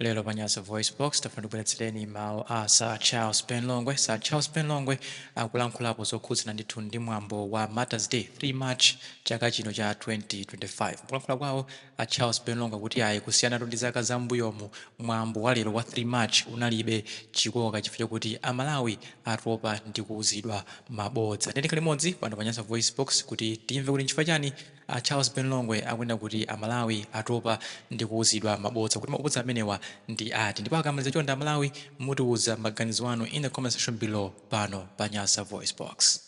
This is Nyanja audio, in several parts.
Lero pa Nyasa VoiceBox, tafuna tibweretsereni mawu a Sir Charles Ben Longwe. Sir Charles Ben Longwe akulankhulapo zokhudzana ndithu ndi mwambo wa Martyrs Day, 3 March chaka chino cha 2025. Mukulankhula kwawo, a Charles Ben Longwe akuti ayi, kusiyanatu ndi zaka za m'mbuyomu, mwambo wa lero wa 3 March unalibe chikoka chifukwa chakuti a Malawi atopa ndi kuuzidwa mabodza. Tiyeni tikhale limodzi pano pa Nyasa VoiceBox kuti timve kuti nchifukwa chani A Charles Ben Longwe akunena kuti a Malawi atopa ndi kuuzidwa mabodza kuti mabodza amenewa ndi ati ndipo akamaliza chonde a Malawi mutiuza maganizo anu in the comment section below pano pa Nyasa Voice Box.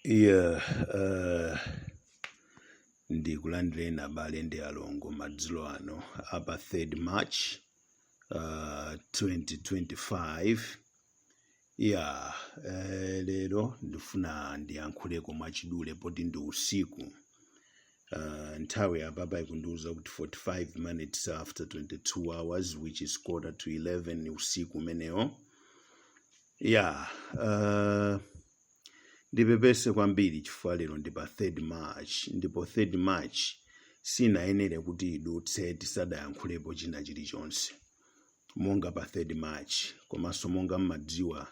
Yeah, uh, ndikulandireni abale ndi alongo madzulo ano apa 3rd March uh, 2025 Ya, eh, lero ndifuna ndiyankhuleko mwachidule poti ndi usiku. Uh, nthawi apapa ikundiuza kuti 45 minutes after 22 hours which is quarter to 11 usiku umenewo. Ya, uh, ndipepese kwambiri chifukwa lero ndi pa 3rd March ndipo 3rd March sinayenere kuti idutse tisadayankhulepo china chilichonse. monga pa 3rd March komanso monga mmadziwa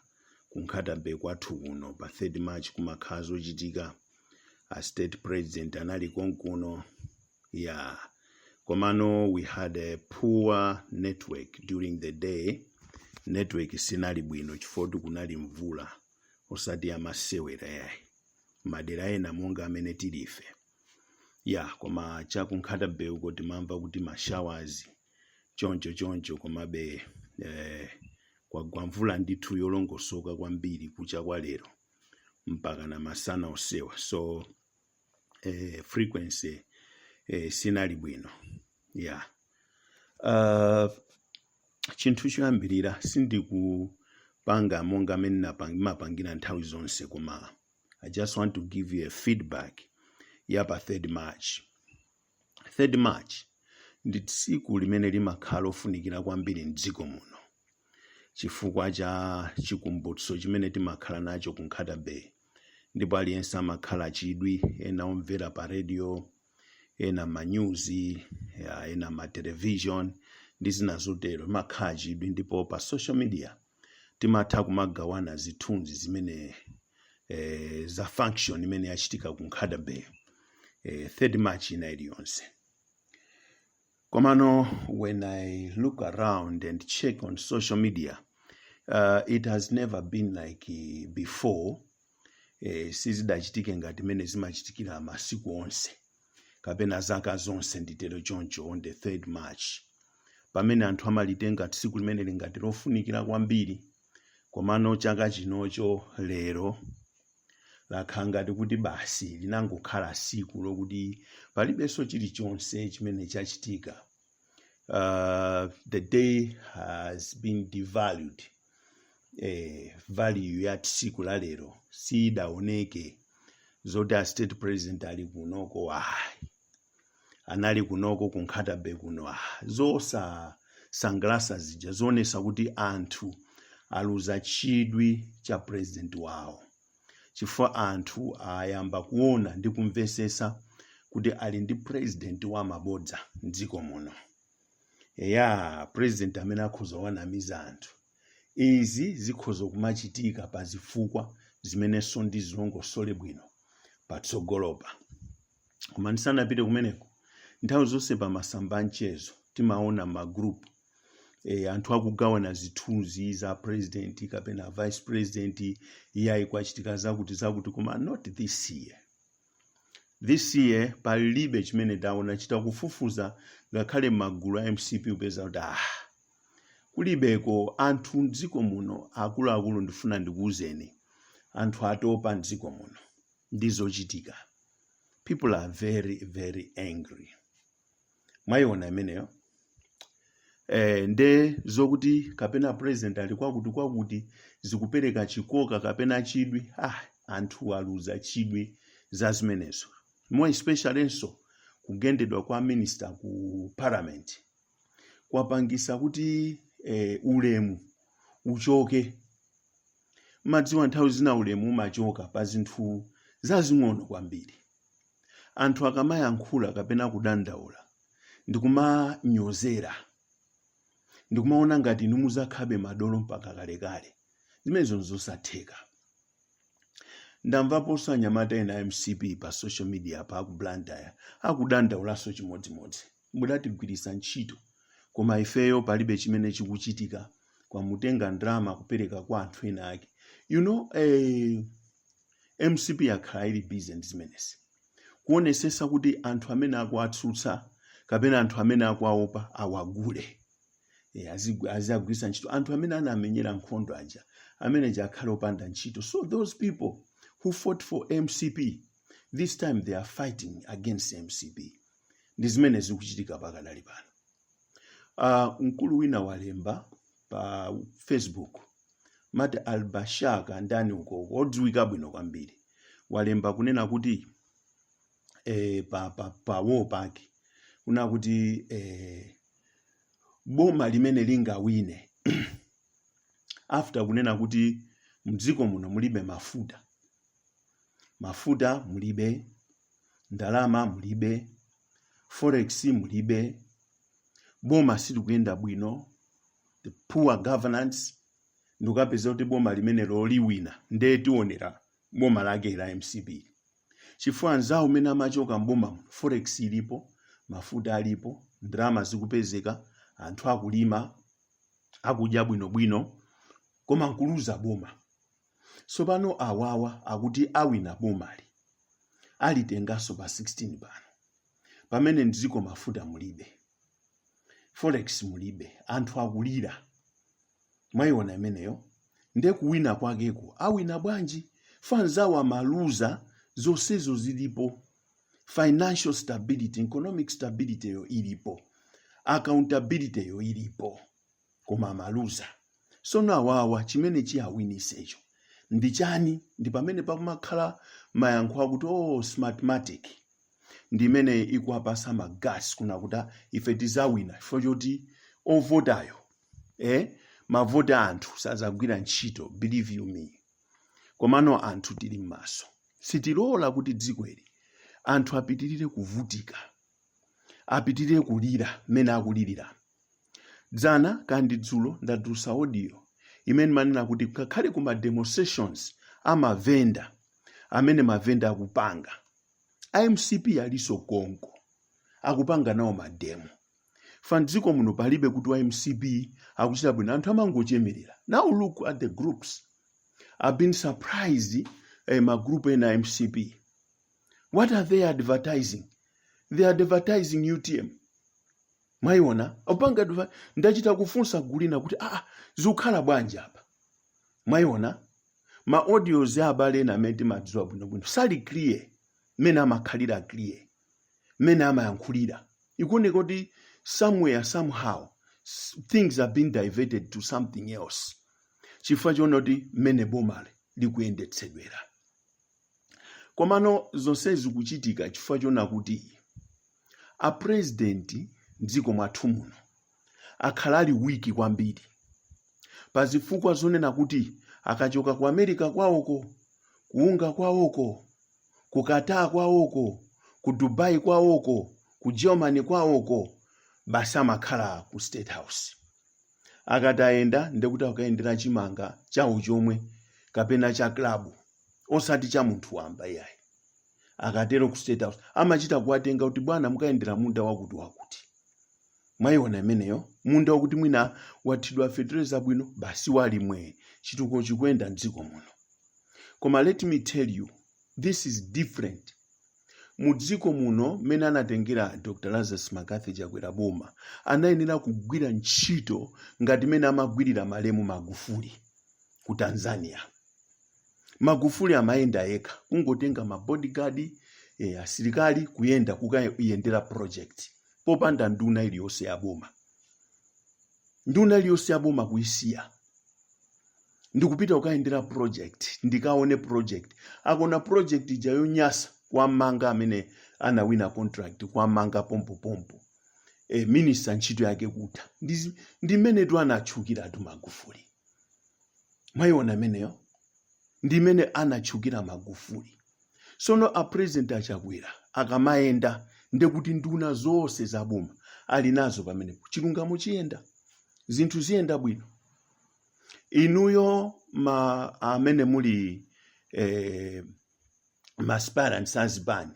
ku Nkhatabay kwathu kuno pa 3rd March kumakhala zochitika a state president anali konkuno ya komano we had a poor network during the day network sinali bwino chifukwa kunali mvula osati yamasewera yayi madera ena monga amene tilife ya koma cha ku Nkhata Bay uko timamva kuti mashawazi choncho choncho komabe eh, kwagwa mvula ndithu yolongosoka kwambiri kucha kwa lero mpaka na masana osewa so eh, frequency eh, sinali bwino yeah. uh, chinthu choyambirira sindikupanga monga amene napang- ndimapangira nthawi zonse koma i just want to give you a feedback ya pa 3rd march 3rd March ndi tsiku limene limakhala lofunikira kwambiri m'dziko muno chifukwa cha chikumbutso chimene timakhala nacho ku Nkhata Bay ndipo aliyense amakhala achidwi ena omvera pa radio ena mmanyuzi ya, ena mma television ndi zina zotero limakhala lachidwi ndipo pa social media timatha kumagawana zithunzi zimene eh, za function imene yachitika ku nkhata bay eh, third march ina iliyonse komano when i look around and check on social media uh, it has never been like eh, before e, sizidachitike ngati mmene zimachitikira masiku onse kapena zaka zonse nditero choncho on the 3rd march pamene anthu amalitenga tsiku limeneli ngati lofunikira kwambiri komano chaka chinocho lero lakhala ngati kuti basi linangokhala siku lokuti palibenso chilichonse chimene chachitika uh, the day has been devalued eh, value ya tsiku la lero siyidaoneke zoti a state president ali kunoko ayi anali kunoko ku Nkhata Bay kuno ah, zosasangalasa zija zoonesa kuti anthu aluza chidwi cha president wawo chifukwa anthu ayamba kuona ndi kumvesesa kuti ali ndi president wa mabodza mdziko muno eya president amene akhoza wanamiza anthu izi zikhoza kumachitika pa zifukwa zimenenso ndizilongosole bwino patsogolopa koma ndisanapite kumeneko nthawi zonse pa masamba a mchezo timaona ma group e, anthu akugawana zithunzi za president kapena vice president iyayi kwachitika zakuti zakuti koma not this year this year palibe chimene taona chita kufufuza ngakhale magulu a mcp upeza kuti ah kulibeko anthu mdziko muno akuluakulu ndifuna ndikuwuzeni anthu atopa mdziko muno ndi zochitika people are very very angry mwayiona imeneyo eh, nde zokuti kapena president ali kwakuti kwakuti sizikupereka chikoka kapena chidwi ayi, anthu aluza chidwi za zimenezo more especially nso kugendedwa kwa minister ku parliament kwapangisa kuti eh, ulemu uchoke madziwa nthawi zina ulemu umachoka pa zinthu zazing'ono kwambiri anthu akamayankhula kapena kudandaula ndikumanyozera ndikumaona ngati inu muzakhabe madolo mpaka kalekale zimenezo nzosatheka ndamvaponso anyamata ena a mcp pa social media pa aku blantyre akudandaulanso chimodzimodzi mudatigwiritsa ntchito koma ifeyo palibe chimene chikuchitika kumatenga ndalama kupereka kwa anthu ena ake you know eh, mcp yakhala ili busy ndi zimenezi kuonesesa kuti anthu amene akuwatsutsa kapena anthu amene akuwaopa awagule Eh, azigu- azagwiritsa ntchito anthu amene anamenyera nkhondo aja amene aja akhale opanda ntchito so those people who fought for mcp this time they are fighting against mcp ndi zimene zikuchitika pakadali pano uh, mkulu wina walemba pa facebook mati albashaka ndani uko odziwika bwino kwambiri walemba kunena kuti eh, pa, pa, pa wall pake kunena kuti eh, boma limene lingawine after kunena kuti mdziko muno mulibe mafuta mafuta mulibe ndalama mulibe forex mulibe boma silikuyenda bwino the poor governance ndikukapezeka kuti boma limenelo liwina nde tionera boma lake la mcp chifukwa anzawo mmene amachoka mboma muno forex ilipo mafuta alipo ndalama zikupezeka anthu akulima akudya bwinobwino koma nkuluza boma sopano awawa akuti awina bomali alitengaso pa 16 pano pamene mdziko mafuta mulibe forex mulibe anthu akulira mwayiona imeneyo nde kuwina kwakeko awina bwanji chifukwa anzawo amaluza zonsezo zilipo financial stability economic stability yo ilipo accountability yo ilipo koma amaluza sono awawa chimene chiyawinisecho ndi chani ndi pamene pakumakhala mayankho akuti oh smartmatic ndi imene ikuwapasa ma guts kunena kuti ife tizawina chifukwa choti ovotayo eh mavoti a anthu sazagwira ntchito believe you me komano anthu tili m'maso sitilola kuti dziko ili anthu apitirire kuvutika apitirire kulira mmene akulirira dzana kandi dzulo ndadutsa audio imene imanena kuti ngakhale ku ma demonstrations amavenda amene mavenda akupanga a mcp aliso konko akupanga nawo mademo chifukwa mdziko muno palibe kuti wa mcp akuchita bwino anthu amangochemerera now look at the groups i've been surprised eh, magroup ena a mcp what are they advertising they are advertising utm mwayiona opanga adver- ndachita kufunsa gulu lina kuti aa ah, zikukhala bwanji apa mwayiona ma audios a abale ena amene timadziwa bwinobwino sali clear mmene amakhalira clear mmene amayankhulira ikuoneka kuti somewhere somehow s- things have been diverted to something else chifukwa choona kuti mmene bomali likuyendetsedwera komano zonsezi zikuchitika chifukwa chona kuti a president mdziko mwathu muno akhala ali wiki kwambiri pa zifukwa zonena kuti akachoka ku america kwawoko ku UNGA kwawoko ku qatar kwawoko ku dubai kwawoko ku germany kwawoko basi amakhala ku state house akatayenda ndekuti akayendera chimanga chawo chomwe kapena cha klabu osati cha munthu wamba iyayi akatero ku state house amachita kuwatenga kuti bwana mukayendera munda wakuti wakuti mwayiona imeneyo munda wakuti mwina wathidwa fetereza bwino basi ali mwee chitukuko chikuyenda mdziko muno koma let me tell you this is different mu dziko muno mmene anatengera dr lazarus mccarthy chakwera boma anayenera kugwira ntchito ngati mmene amagwirira malemu magufuli ku tanzania magufuli amayenda yekha kungotenga ma bodyguard eh, asilikali kuyenda kukayendera project popanda nduna iliyonse ya boma nduna iliyonse ya boma kuisiya ndikupita kukayendera project ndikaone project akona project ija yonyasa kwam'manga amene anawina contract kwam'manga pompopompo e, minister ntchito yake kutha Ndizi- ndi mmenetu anatchukiratu magufuli mwayiona imeneyo ndi mmene anatchukira magufuli sono a president a chakwera akamayenda nde kuti nduna zonse za boma ali nazo pamenepo chilungamo chiyenda zinthu ziyenda bwino inuyo ma amene muli eh, ma aspirants azibani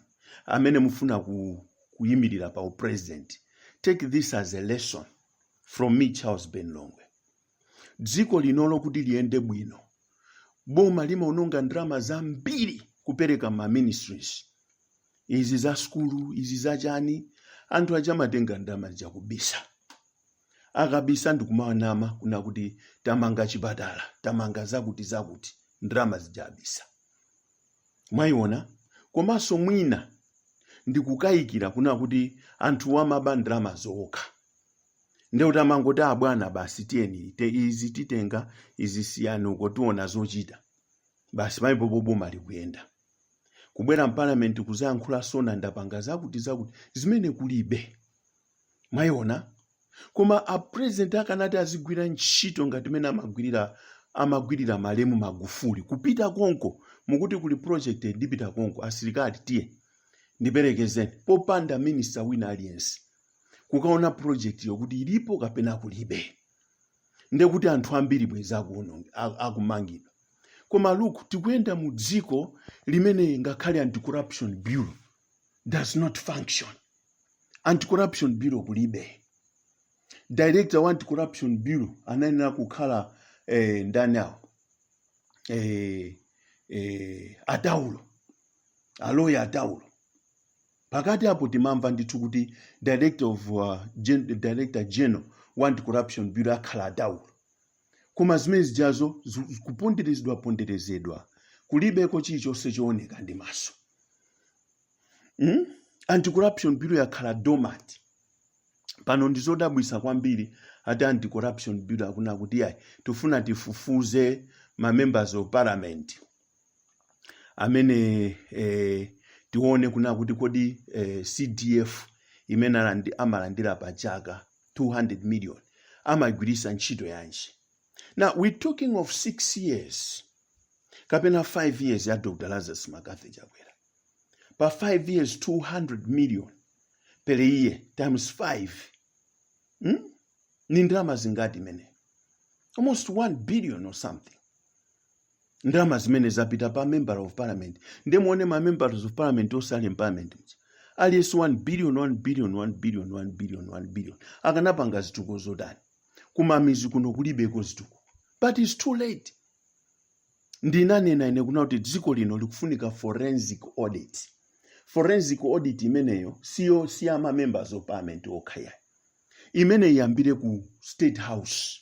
amene mufuna ku, kuyimirira pa upresident take this as a lesson from me charles ben longwe dziko linolo kuti liyende bwino boma limaononga ndalama zambiri kupereka ma ministries izi za skulu izi za chani anthu aja amatenga ndalama zija kubisa akabisa ndikumanama kuna kuti tamanga chipatala tamanga zakuti zakuti ndalama zija abisa mwayiona komanso mwina ndikukayikira kuna kuti anthu amaba ndalama zokha nde kuti amangoti abwana basi tiyeni te izi titenga izi siyani uko tiona zochita basi pamenepopa boma likuyenda kubwera mparliament kuzayankhula sona ndapanga zakuti zakuti zimene kulibe mwayiona koma a president akanati azigwira ntchito ngati mene amagwirira malemu magufuli kupita konko mukuti kuli project ndipita konko asilikali tiye ndiperekezeni popanda minista wina aliyense kukaona project yo kuti ilipo kapena kulibe nde kuti anthu ambiri bwezi akuononge- a- akumangidwa koma look tikuyenda mu dziko limene ngakhale anti-corruption bureau does not function anti-corruption bureau kulibe director wa anti-corruption bureau anayenera kukhala eh, ndani awo eh, eh, ataulo aloya ataulo Pakati apo timamva ndithu kuti director of uh, gen, director general wa anti-corruption bureau akhala ataulo koma zimene zijazo zu- zu- kuponderezedwa ponderezedwa kulibeko chilichonse chooneka ndi maso mm? anti-corruption bureau yakhala dormant pano ndi zodabwisa kwambiri ati anti-corruption bureau akunena kuti ayi tifuna tifufuze ma members of parliament amene eh, tione kuna kuti kodi eh, cdf imene alandi- amalandira pa chaka 200 million amaigwiritsa ntchito yanji now we talking of six years kapena five years ya dr lazarus mccarthy chakwera pa five years 200 million per year times five hmm? ni ndalama zingati zimene almost 1 billion or something ndalama zimene zapita pa member of parliament nde muone ma members of parliament onse ali mparliament muja aliyense 1 billion 1 billion 1 billion 1 billion 1 billion akanapanga zituko zotani kumamizi kuno kulibeko zituko but its too late ndinanena ine kuna kuti dziko lino likufunika forensic audit forensic audit imeneyo siyo siyama members of parliament okha yayi imene iyambire ku state house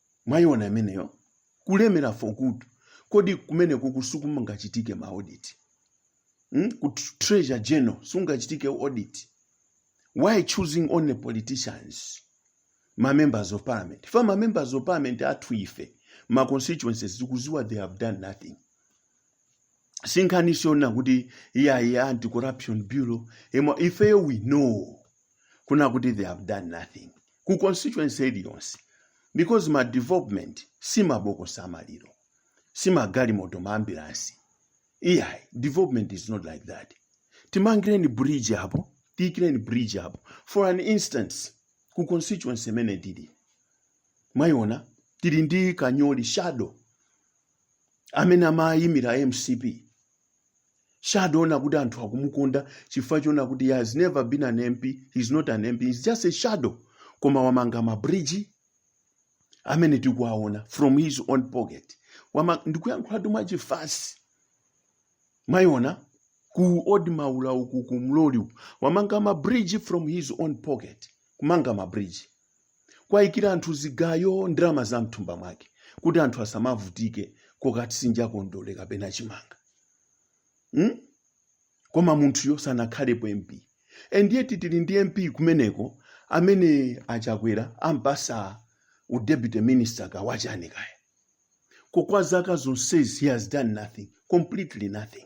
mwayiona imeneyo kulemera for good kodi kumene kuku sikumangachitike ma audit hmm? ku tr- treasury general sungachitike audit why choosing only politicians ma members of parliament for ma members of parliament athu ife ma constituencies tikuziwa they have done nothing si nkhani yonena kuti iyayi anti corruption bureau emo ifeyo we know kuna kuti they have done nothing ku constituency iliyonse because ma development si mabokosi amaliro si magalimoto ma ambulance iyayi development is not like that timangireni bridge apo tiyikireni bridge apo for an instance ku constituency imene tili mwayiona tili ndi kanyoli shadow amene amayimira mcp shadow ndi kuti anthu akumukonda chifukwa chona kuti he has never been an mp he is not an mp he is just a shadow koma wamanga mabridge amene tikuwaona from his own pocket ndikuyankhulatu mwachifatse mwayiona ku old maula uku ku mloli wamanga mabridge from his own pocket kumanga mabridge kuwayikira anthu zigayo ndalama za mthumba mwake kuti anthu asamavutike kokatsinja kondole kapena chimanga hmm? koma munthuyo sanakhalepo mp and yet tili ndi mp kumeneko amene achakwera ampasa u deputy minister ka wa chani kaya ko kwa zaka zonsezi he has done nothing completely nothing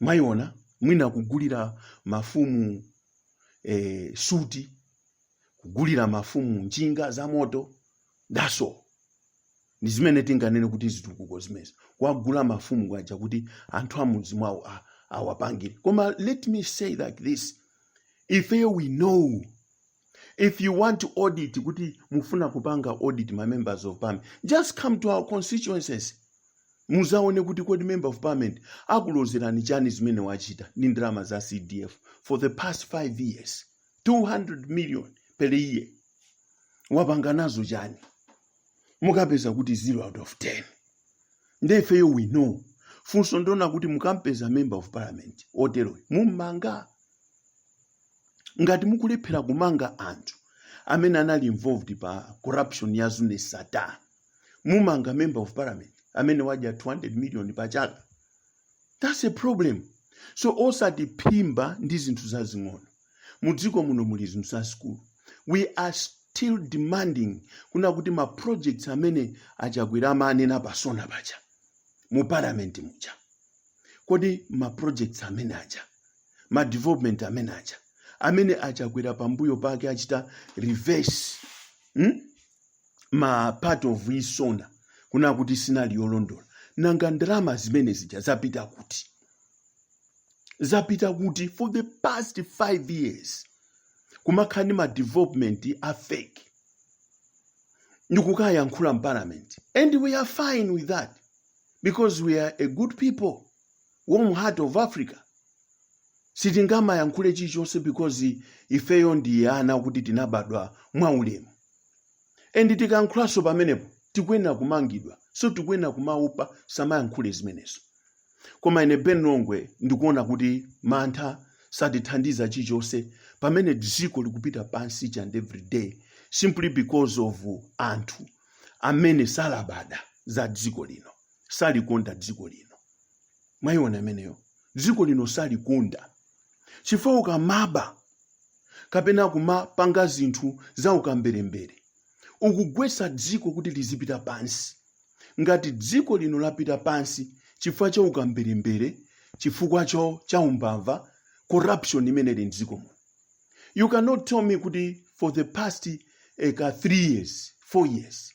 Mwayiona mwina kugulira mafumu eh, suti kugulira mafumu njinga za moto that's all ndi zimene tinganene kuti zitukuko zimenezi kuwagula mafumu kwaja kuti anthu amudzi mwawo a- awapangire koma let me say like this ifeyo we know If you want to audit kuti mufuna kupanga audit ma members of parliament, just come to our constituencies. Muzaone kuti kodi member of parliament akulozerani chani zimene wachita ndi ndalama za CDF for the past 5 years. 200 million per year. Wapanga nazo chani? Mukapeza kuti 0 out of 10. Nde ifeyo we know. Funso ndonena kuti mukampeza member of parliament oteroyo. Mummanga. ngati mukulephera kumanga anthu amene anali involved pa corruption ya zuneth sattar mummanga member of parliament amene wadya 200 million pa chaka that's a problem so osatiphimba ndi zinthu zazing'ono mu dziko muno muli zinthu zazikulu we are still demanding kunena kuti ma projects amene achakwera amanena pa sona paja mu parliament muja kodi ma projects amene aja ma development amene aja amene achakwera pambuyo pake achita reverse hmm? ma part of sona kunena kuti sinali yolondola nanga ndalama zimene zija zapita kuti zapita kuti for the past five years kumakhala ndi ma development a fake ndikukayankhula mparliament and we are fine with that because we are a good people warm heart of africa sitingamayankhule chilichonse because ifeyo ndi ana kuti tinabadwa mwaulemu and tikayankhulanso pamenepo tikuyenera kumangidwa so tikuyenera kumaopa tisamayankhule zimenezo koma ine ben longwe ndikuona kuti mantha satithandiza chilichonse pamene dziko likupita pansi each and every day simply because of anthu amene salabada za dziko lino salikonda dziko lino mwayiona imeneyo dziko lino salikonda chifukwa ukamaba kapena kumapanga zinthu za ukamberembere ukugwetsa dziko kuti lizipita pansi ngati dziko lino lapita pansi chifukwa cha ukamberembere chifukwa cha umbava corruption imene ili mdziko muno you cannot tell me kuti for the past eh, ka 3 years 4 years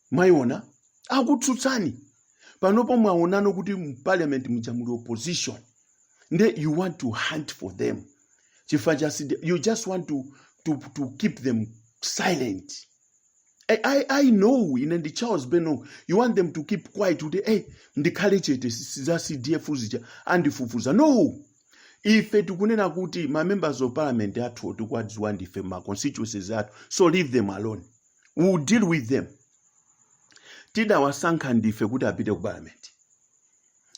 mwayiona akutsutsani panopo mwaonano kuti mparliament muja muli opposition nde you want to hunt for them chifukwa cha sidi- you just want to, to, to keep them silent I, I, I know ine ndi charles ben you want them to keep quiet kuti hey, ndikhale chete si- si- za cdf zija andifufuza no ife tikunena kuti ma members of parliament athu tikuwadziwa ndife ma constituencies athu so leave them alone we will deal with them tidawasankha ndife kuti apite ku parliament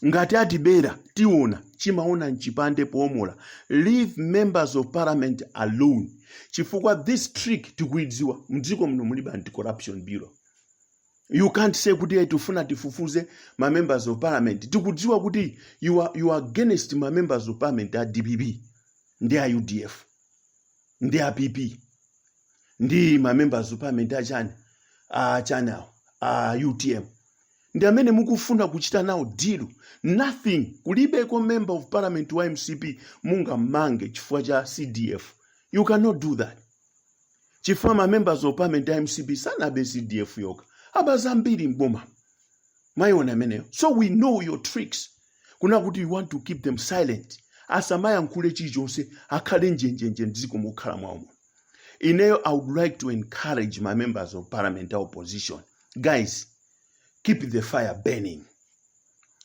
ngati atibera tiona chinaona mchipande poomola leave members of parliament alone chifukwa this trick tikuidziwa mdziko muno mulibe anti corruption bureau you can't say kuti tikufuna tifufuze ma members of parliament tikudziwa kuti you are, you are against ma members of parliament a dpp ndi a udf ndi a pp ndi ma members of parliament achani a chani awo a utm ndi amene mukufuna kuchita nawo deal nothing kulibeko member of parliament wa mcp mungamange chifukwa cha cdf you cannot do that chifukwa ma members of parliament a mcp sanabe cdf yokha aba zambiri mboma mwayiona imeneyo so we know your tricks kunena kuti you want to keep them silent asamayankhule chilichonse akhale njenjenje mdziko mokhala mwawo muno ineyo i would like to encourage ma members of parliament a opposition guys keep the fire burning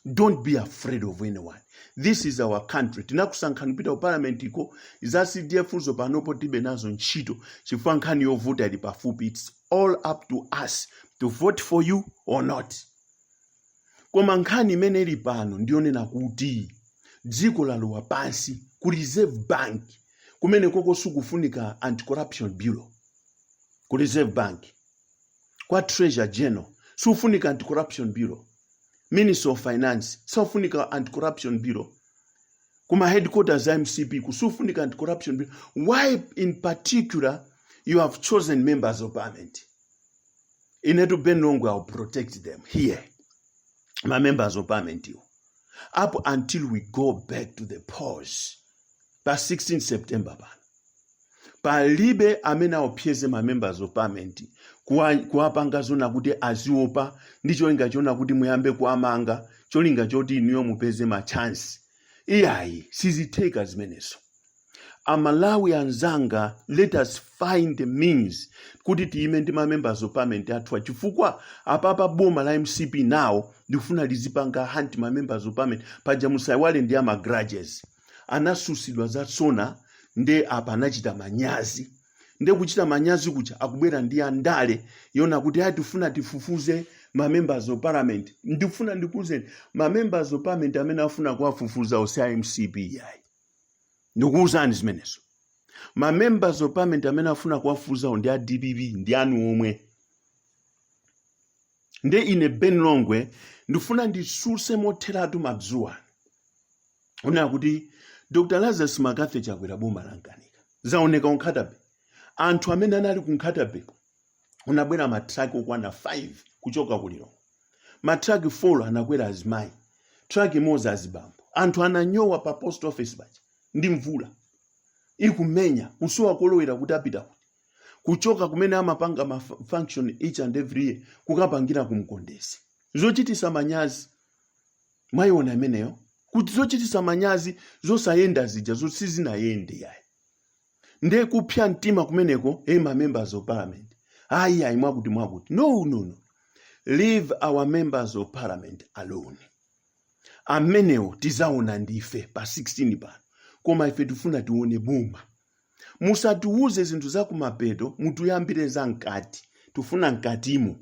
don't be afraid of anyone this is our country tinakusankhani kupita ku parliament iko za cdf zo panopo tilibe nazo ntchito chifukwa nkhani yovota ili pafupi its all up to us to vote for you or not koma nkhani imene ili pano ndiyonena kuti dziko lalowa pansi ku reserve bank kumene koko sikufunika anti-corruption bureau ku reserve bank kwa treasury general sikufunika anti-corruption bureau minister of finance saufunika anti-corruption bureau kuma headquarters a mcp sikufunika anti-corruption bureau why in particular you have chosen members of parliament inetu ben longwe i'll protect them here ma members of parliament iwo up until we go back to the polls pa 16 september pano palibe amene aopseze ma members of parliament kuwapanga zona kuti aziopa ndi cholinga chona kuti muyambe kuwamanga cholinga choti inuyo mupeze ma chance iyayi sizitheka zimenezo amalawi anzanga let us find the means kuti tiyime ndi ma members of parliament athuwa chifukwa apapa boma la mcp nawo akufuna lizipanga hunt ma members of parliament paja musaiwale ndi ama grudges anasusidwa za sona nde apa anachita manyazi nde kuchita manyazi kuja akubwera ndi andale yona kuti ayi tifuna tifufuze ma members of parliament ndifuna ndikuuzeni ma members of parliament amene afuna kuwafufuza osati a mcp yayi ndikuwuzeni zimenezo ma members of parliament amene afuna kuwafufuzawo ndi a dpp ndi anu omwe nde ine ben longwe ndifuna ndisuse motheratu madzulo ano kunena kuti dr lazarus mccarthy chakwera boma lamkanika zaoneka ku nkhata bay anthu amene anali ku nkhata bay kunabwera matraki okwana 5 kuchoka ku lilongwe matraki 4 anakwera azimayi traki imodzi azibambo anthu ananyowa pa post office paja ndi mvula ikumenya kusowa kolowera kuti apita kuti kuchoka kumene amapanga ma function each and every year kukapangira kumkondezi zochitisa manyazi mwayiona imeneyo kuti zochitisa manyazi zosayenda zija zoti sizinayende yayi nde kupsa mtima kumeneko eh ma members of parliament ayi ayi mwakuti mwakuti no no no leave our members of parliament alone amenewo tizaona ndife pa 16 pano koma ife tifuna tione boma musatiwuze zinthu za kumapeto mutiyambire za mkati tifuna mkatimo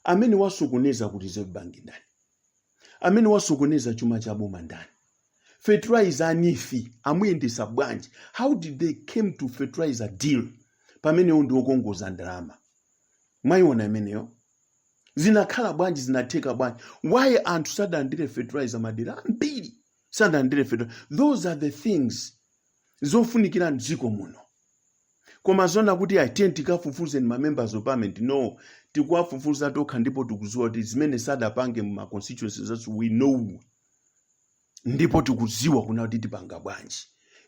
amene wasokoneza ku reserve bank ndani amene wasokoneza chuma cha boma ndani fertilizer neef amuyendesa bwanji how did they came to fertilizer deal pamenewo ndi okongoza ndalama mwayiona imeneyo zinakhala bwanji zinatheka bwanji why anthu sadalandire fertilizer madera ambiri sadalandire fertilizer those are the things zofunikira mdziko muno koma zona kuti ayi tiye tikafufuze ma members of parliament no tikuwafufuza tokha ndipo tikudziwa kuti zimene sadapange mu ma constituency zathu we know ndipo tikudziwa kunena kuti tipanga bwanji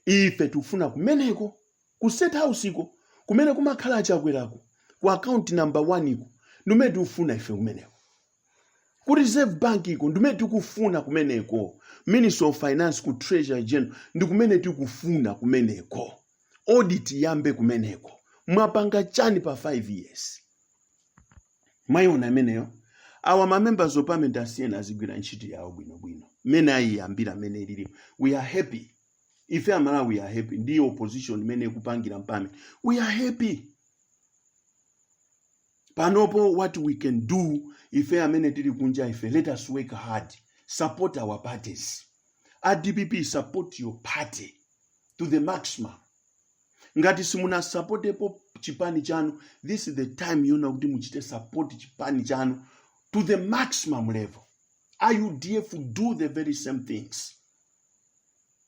ife tikufuna kumeneko ku state house iko kumene kumakhala achakwerako ku account number 1 iko ndikumene tikufuna ife kumeneko ku reserve bank uko ndi kumene tikufuna kumeneko minister of finance ku treasury general ndi kumene tikufuna kumeneko audit yambe kumeneko mwapanga chani pa 5 years mwayiona imeneyo ma members of parliament asiyeni azigwira ntchito yawo bwinobwino mmene ayiyambira mmene ilili we are happy ife amalawi we are happy ndi opposition imene ikupangira m'parliament we are happy panopo what we can do ife amene tili kunja ife let us work hard support our parties dpp support your party to the maximum ngati simunasapotepo chipani chanu this is the time yonena kuti muchite support chipani chanu to the maximum level udf do the very same things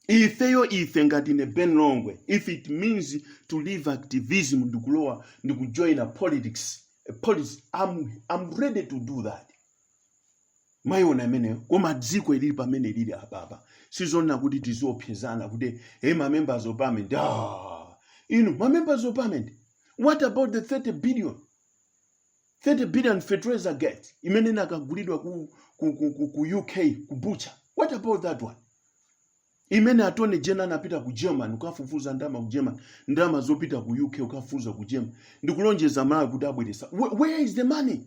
ifeyo ife ngati ine ben longwe if it means to leave activism ndikulowa ndikujoina politics I'm ready to do that mwayiona imeneyo koma dziko ilili pamene lili apapa sizonena kuti tiziopsezana kuti hey ma members of parliament ah, inu ma members of parliament what about the 30 billion 30 billion fertilizer gate imene inakagulidwa ku uk ku butcher what about that one imene attorney general anapita ku german kukafufuza ndalama ku german ndalama zopita ku uk kukafufuza ku german ndikulonjeza amalawi kuti abweretsa where is the money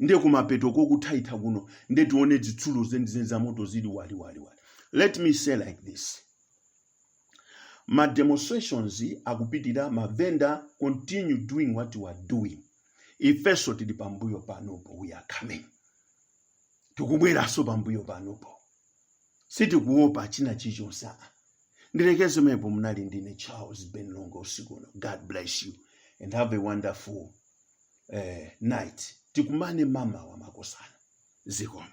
nde kumapeto kokuthaitha kuno nde tione zitsulo zenizeni za moto zili waliwaliwali let me say like this ma demonstrations akupitira ma vendor continue doing what you are doing ifenso tili pambuyo panopo we are coming tikubweranso pambuyo panopo sitikuopa china chilichonse aa ndilekeze pomwepo munali ndine charles ben longwe usiku uno god bless you and have a wonderful night tikumane mamawa makosana zikomo